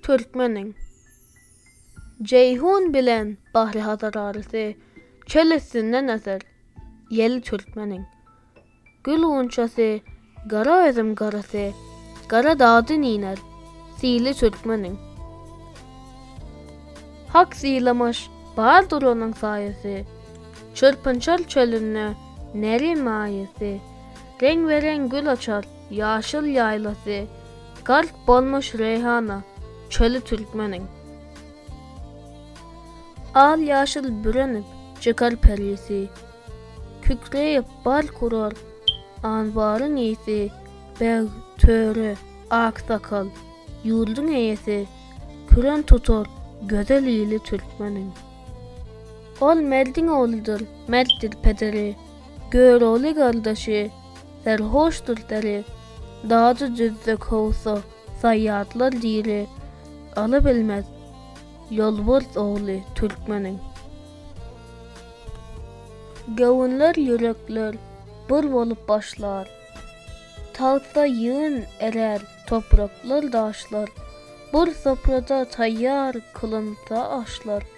Türkmeniň Jeýhun bilen Bahri Hazar arasy Çöl üstünden öser ýel Türkmeniň Gül gunçasy Gara özüm garasy Gara dagdan iner Sili Türkmeniň Hak sylamaş Bardyr onuň saýasy Çyrpynçar çölünde Nerin maýasy Reňbe-reň gül açar Ýaşyl ýaýlasy, Gark bolmuş reýhana çöli türkmeniň. Al ýaşyl bürenip çykar perisi, Kükreýip bal kurar anbaryň ýesi, Beg, töre, aksakal, ýurduň eýesi, Küren tutar gözel ili türkmeniň. Ol merdiň ogludyr, mertdir pederi, Görogly gardaşy, Serhoşdyr deri, Dajy düzde kowsa, Saýýatlar diri, Aly bilmez, Ýolbars ogly türkmeniň. Göwünler, ýürekler Bir bolup başlar, Tagtda ýygyn erer Topraklar, daşlar, Bir soprada taýýar Kylynsa aşlar.